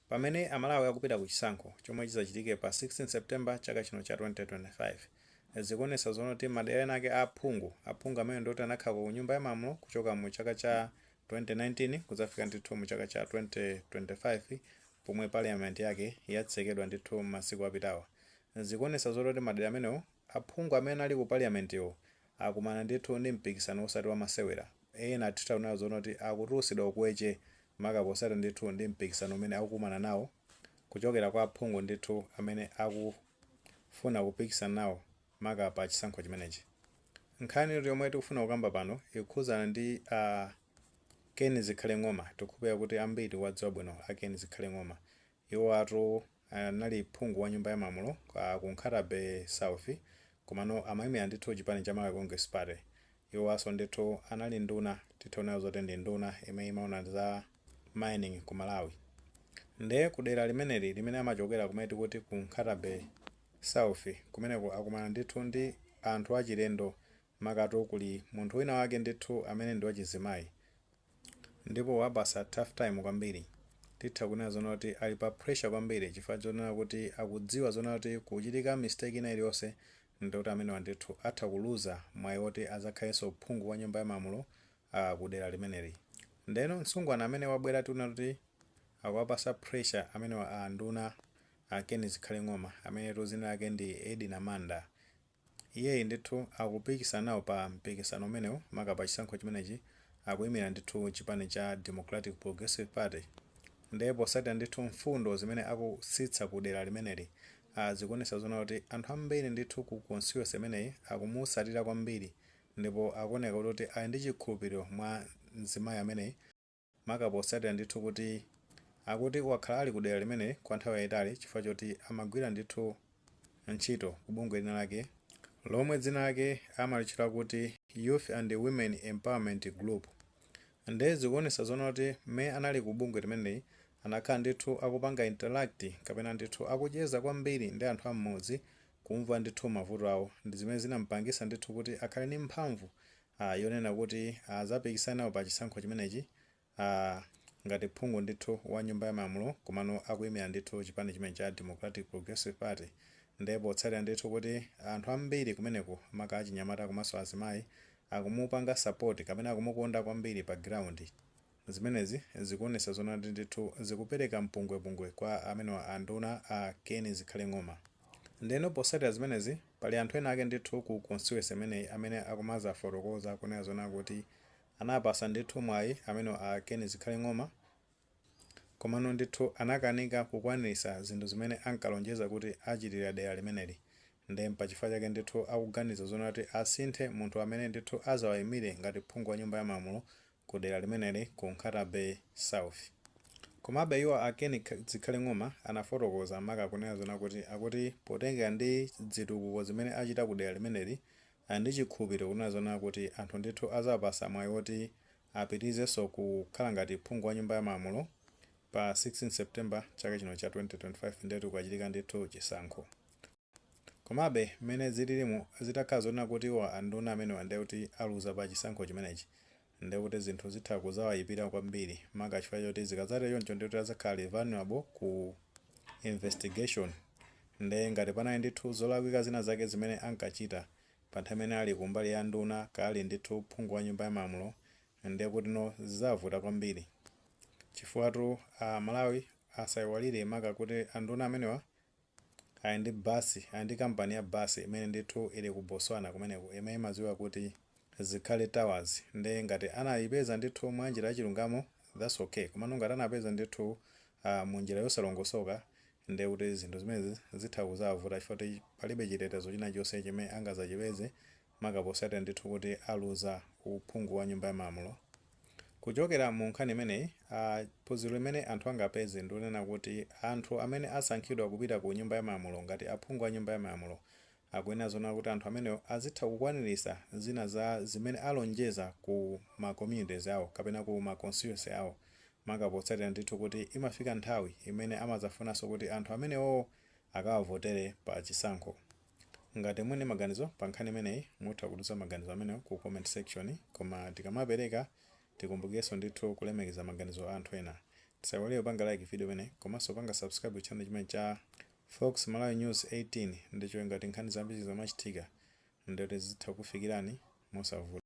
Pamene amalawi akupita ku chisankho chomwe chizachitike pa 16 September chaka chino cha 2025, zikuonesa zoona kuti madera ena ake a aphungu, aphungu amene ndioti anakhalako ku nyumba ya malamulo kuchoka mu chaka cha 2019 kudzafika ndithu mu chaka cha 2025 pomwe parliament yake yatsekedwa ndithu masiku apitawa, zikuonesa zoona kuti madera amenewo aphungu amene anali ku parliament wo akumana ndithu ndi mpikisano osati wamasewera. Ena titha kunena zoona kuti akutulusidwa ukweche maka posata ndithu ndi mpikisano umene akukumana nawo kuchokera kwa aphungu ndithu amene aku funa kupikisana nawo maka pa chisankho chimenechi. Nkhani yomwe tikufuna kukamba pano ikukhuzana ndi a Ken Zikhale Ng'oma. Tikukhulupilira kuti ambiri mukuwadziwa bwino a Ken Zikhale Ng'oma. Iwoatu anali phungu wa nyumba ya malamulo ku Nkhata-bay South komano amaimila ndithu chipani cha Malawi Congress Party. Iwowaso ndithu anali nduna titha kunena zoti ndi nduna imene imaona za mining ku Malawi. Nde ku dela limeneli limene amachokela kumene tikuti ku Nkhata-bay South kumeneko akumana ndithu ndi anthu achilendo makatu kuli munthu wina wake ndithu amene ndi wachizimayi ndipo wawapasa tough time kwambiri titha kunena zoona kuti ali pa pressure kwambiri chifukwa chonena kuti akudziwa zoona kuti kuchitika mistake ina iliyonse ndi kuti amenewa ndithu atha kuluza mwayi woti azakhalenso phungu wa nyumba ya malamulo a ku dera limeneli ndeno msungwana amene wabwera tikunena kuti akuwapasa pressure amenewa a nduna a Ken Zikhale Ng'oma ameneyu dzina lake ndi Edina Manda Iyeyi ndithu akupikisana nawo pa mpikisano umenewu maka pa chisankho chimenechi akuyimira ndithu chipani cha Democratic Progressive Party nde posatira ndithu mfundo zimene akutsitsa ku dera limeneli a zikuonetsa zoona kuti anthu ambiri ndithu ku constituency imeneyi akumutsatira kwambiri ndipo akuoneka kuti ali ndi chikhulupiliro mwa mzimayi ameneyi maka potsatira ndithu kuti akuti wakhala ali kudera limeneli kwa nthawi yayitali chifukwa choti amagwira ndithu ntchito ku bungwe lina lake lomwe dzina lake amalitchula kuti Youth and Women Empowerment Group. Nde zikuonetsa zoona kuti mmene anali ku bungwe limeneli anakhala ndithu akupanga interact kapena ndithu akucheza kwambiri ndi anthu a m'mudzi kumva ndithu mavuto awo ndi zimene zinamupangitsa ndithu kuti akhale ndi mphamvu a yonena kuti azapikisane nawo pa chisankho chimenechi a ngati phungu ndithu wa nyumba ya malamulo komano akuyimira ndithu chipani chimene cha Democratic Progressive Party nde potsatira ndithu kuti anthu ambiri kumeneko maka achinyamata komanso azimayi akumupanga support kapena akumukonda kwambiri pa ground Zimenezi zikuonesa zona kuti ndithu zikupereka mpungwepungwe kwa amenewa a nduna a Ken Zikhale Ng'oma. Ndeno posatira zimenezi pali anthu ena ake ndithu ku constituency imeneyi amene akumazafotokoza kunena zoona kuti anapasa ndithu mwayi amenewa a Ken Zikhale Ng'oma komano ndithu anakanika kukwanilisa zinthu zimene ankalonjeza kuti achitira dera limeneli nde pachifukwa chake ndithu akuganiza zoona kuti asinthe munthu amene ndithu azawayimire ngati phungu wa nyumba ya malamulo ku dera limeneli ku Nkhata Bay South. Komabe iwo a Ken Zikhale Ng'oma anafotokoza maka kunena zona kuti akuti potengera ndi dzitukuko zimene achita ku dera limeneli ali ndi chikhulupiliro kunena zona kuti anthu ndithu azawapasa mwayi woti apitilizenso kukhala ngati phungu wa nyumba ya malamulo pa 16 September chaka chino cha 2025 ndetu kukachitika ndithu chisankho. Komabe mmene zililimu zitakhala zonena kuti iwo anduna amenewa ndiye kuti aluza pa chisankho chimenechi ndiye kuti zinthu zitha kuzawayipira kwambiri maka chifukwa choti zikadzatero choncho ndiye kuti adzakhala vulnerable ku investigation ndiye ngati panali ndithu zolakwika zina zake zimene ankachita pa nthawi imene ali ku mbali ya nduna kaya ali ndithu phungu wa nyumba ya malamulo ndiye kutino zizawavuta kwambiri chifukwatu a Malawi asayiwalire maka kuti anduna amenewa ali ndi bus, ali ndi company ya bus imene ndithu ili ku Botswana kumeneko imene imadziwika kuti Zikhale Tours nde ngati anayipeza ndithu mwa njira ya chilungamo that's ok komano ngati anapeza ndithu mu njira yosalongosoka ndiye kuti zinthu zimenezi zitha kuzawavuta chifukwa choti palibe chitetezo china chonse chimene angazachipeze maka posatira ndithu kuti aluza uphungu wa nyumba ya malamulo. Kuchokera mu nkhani imeneyi, a phunziro limene anthu angapeze ndilonena kuti anthu amene asankhidwa kupita ku nyumba ya malamulo ngati aphungu a nyumba ya malamulo akuyenera zoona kuti anthu amenewo azitha kukwanilisa zina za zimene alonjeza ku ma communities awo kapena ku ma constituency awo maka potsatira ndithu kuti imafika nthawi imene amazafunaso kuti anthu amenewowo akawavotere pa chisankho. Ngati muli ndi maganizo pa nkhani imeneyi mutha kutiuza maganizo amenewo ku comment section. Koma tikamapereka tikumbukirenso ndithu kulemekeza maganizo a anthu ena. Tisaiwale kupanga like video imeneyi komanso kupanga subscribe ku channel chimenechi cha Fox Malawi News 18 ndi cholinga choti nkhani zambiri zikamachitika ndiye kuti zitha kukufikirani mosavuta.